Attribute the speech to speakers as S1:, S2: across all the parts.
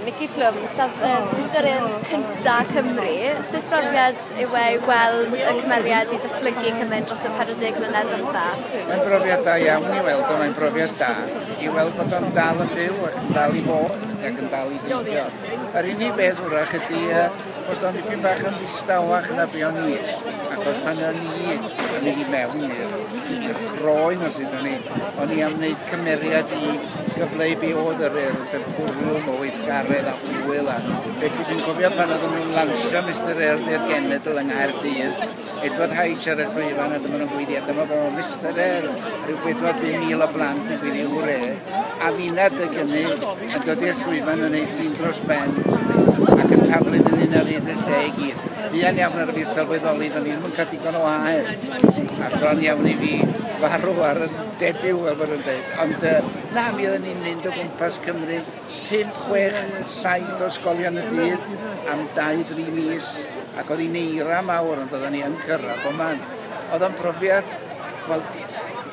S1: Mici Plwm, sef um, Pwystorydd Cynta Cymru. Sut brofiad yw e i weld y cymeriad i datblygu cymaint dros y 40 mlynedd dwytha? Mae'n brofiad da
S2: iawn i weld o, mae'n brofiad da i weld bod o'n dal yn byw ac yn dal i fod ac yn dal i deithio. Yr unig beth wrach ydy uh, Bod o'n dipyn bach yn ddistawach na be o'n i, achos pan o'n i yn mynd i mewn i'r croen os ydyn ni, o'n i am wneud cymeriad i gyfleu be oedd yr er, sef bwrlwm o weithgaredd a hwyl a beth dwi'n cofio pan oedden nhw'n lansio Mister Earth i'r genedl yng Nghaerdydd, Edward Hyde, Siarad Cleifion, a dyma nhw'n gweiddi, a dyma fo, Mister Hare, rhyw bedwar bum mil o blant yn gweiddi hwre, a finna dy gynnu yn dod i'r llwyfan yn ei tîm dros ben, ac yn taflu'n yn un ar hyd y lle i gyd. Buan iawn ar y fi sylweddoli, do'n i'm yn cael digon o aer, a bron iawn i fi farw ar y debyw, fel bod yn dweud. Ond, uh, na, mi oedden ni'n mynd o gwmpas Cymru, Pump, chwech, saith o ysgolion y dydd am dau, dri mis, ac oedd hi'n eira mawr, ond oedden ni yn cyrraedd bob man. Oedd o'n profiad, wel,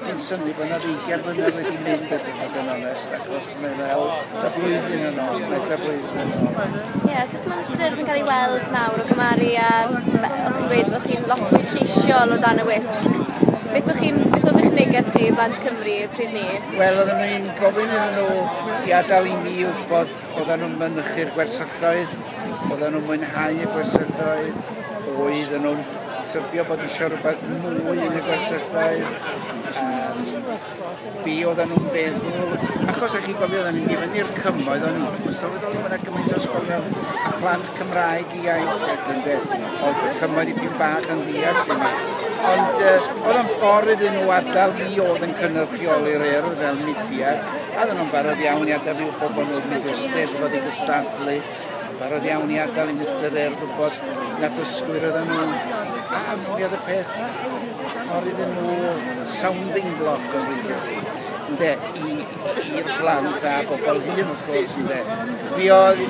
S2: fi'n synnu bod yna ddeugain blynedd wedi mynd ydw i fod yn onest, achos mae fel ta blwyddyn yn ôl, mae ta blwyddyn yn ôl. Ie, yeah, sut mae'n ystyr
S1: yn cael ei weld nawr o gymaru a o'ch chi'n gweud bod chi'n lot fwy lleisiol o dan y wisg? Beth o'ch chi'n, beth oedd eich neges chi i blant Cymru pryd ni? Wel, oedden nhw'n
S2: Gofyn iddyn nhw i adael i mi wybod oedden nhw'n mynychu'r gwersylloedd, oedden nhw'n mwynhau y gwersylloedd, oedden nhw'n tybio bod eisiau rhywbeth mwy yn y gwersylloedd, be oedden nhw'n feddwl. Achos ag i gofio oedden ni'n mynd i fyny'r cymoedd, o'n i'n sylweddoli bod yna gymaint o ysgolion a plant Cymraeg iaith ac yn de, oedd y cymoedd i pyn bach yn ddias yma. Ond uh, oedd yn ffordd iddyn nhw adael fi oedd yn cynrychioli'r er fel mudiad, a ddyn nhw'n barod iawn i adael fi wybod bod nhw'n mynd i'r steddfod i gystadlu, barod iawn i adael i Mr Er gwybod na dysgwyr oedden nhw. A mi oedd y peth ffordd iddyn nhw sounding block os liciwch chi. Ynde, i i'r plant a bobl hŷn wrth gwrs ynde. Mi oedd,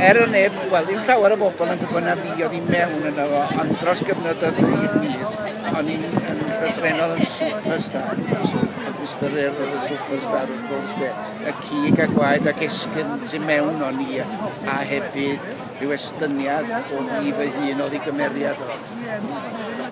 S2: er o neb, wel ddim llawer o bobl yn gwybod na fi oedd i mewn yno fo, ond dros gyfnod o dri mis, o'n i'n yn llythrenol yn superstar. Ac Mr Earl oedd y superstar wrth gwrs de. Y cig a gwaed ac esgyn tu mewn o'n i, a hefyd rhyw estyniad o fi fy hun oedd i gymeriad o.